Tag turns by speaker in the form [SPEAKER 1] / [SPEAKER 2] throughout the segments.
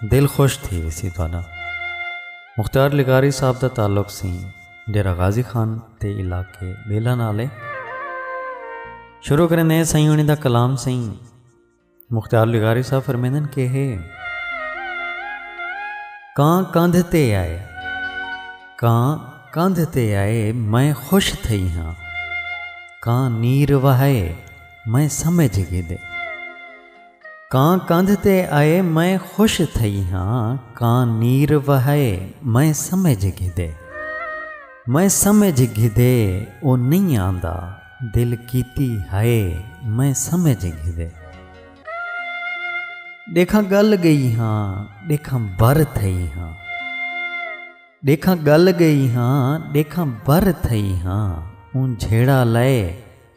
[SPEAKER 1] دل خوش تھی ویسی تہاڈا مختیار لغاری صاحب دا تعلق سی ڈیرہ غازی خان تے علاقے بیلا نال ہے شروع کریں دے سائیں ہونی دا کلام سی مختیار لغاری صاحب فرمیندن کہ ہے کان کندھ تے آئے کان کندھ تے آئے میں خوش تھئی ہاں کان نیر وہائے میں سمجھ گے دے کاں کندھ تے آئے میں خوش تھئی ہاں کاں نیر وہائے میں سمجھ گھدے میں سمجھ گھدے او نئیں آندا دل کیتی ہائے میں سمجھ گھدے ݙیکھاں ڳل ڳئی ہاں ݙیکھاں بر تھئی ہاں ݙیکھاں ڳل ڳئی ہاں ݙیکھاں بر تھئی ہاں اوں جھیڑا لائے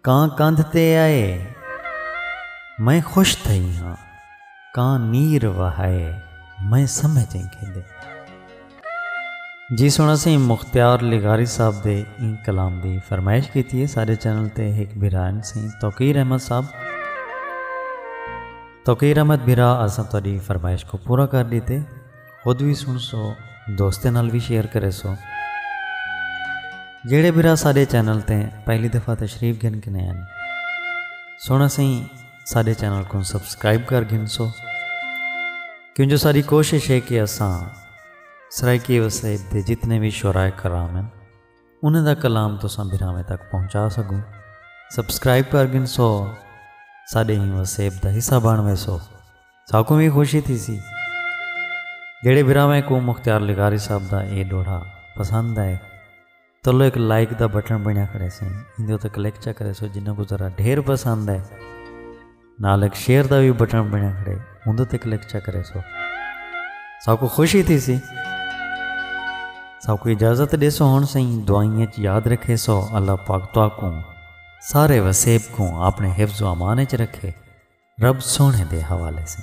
[SPEAKER 1] کاں کندھ تے آئے میں خوش تھئی ہاں کاں نیر وہائے میں سمجھ ایں کھیندے جی سن اسی مختیار لغاری صاحب دے این کلام دی فرمائش کیتی ہے سارے چینل تے ایک بھرائن سی توقیر احمد صاحب توقیر احمد بھرا اساں تہاڈی فرمائش کو پورا کر دیتے خود وی سن سو دوستیں نال وی شیئر کرے سو جیڑے برا ساڈے چینل تے پہلی دفعہ تشریف گھن کنے ہیں سونا سہی ساڈے چینل کو سبسکرائب کر گھن سو کیوں جو ساری کوشش ہے کہ اساں سرائیکی وسیب دے جتنے بھی شعرائے کرام ہیں انہیں دا کلام تو ساں بھراویں تک پہنچا سکوں سبسکرائب کر گھن سو ساڈے ہی وسیب دا حصہ بن وے سو ساکوں وی خوشی تھی سی جڑے براویں کو مختار لغاری صاحب دا اے ڈوڑھا پسند آئے تلو ایک لائک دا بٹن بنیا کھڑے سیں اندے تے کلک چا کرے سو جنہاں کو ذرا ڈھیر پسند ہے نال ایک شیئر دا بھی بٹن بنیا کھڑے اندے تے کلک چا کرے سو ساکو خوشی تھی سی ساکو اجازت دے سو ہن سیں دعائیں وچ یاد رکھے سو اللہ پاک تو کو سارے وسیب کو اپنے حفظ و امان وچ رکھے رب سوہݨے دے حوالے سن۔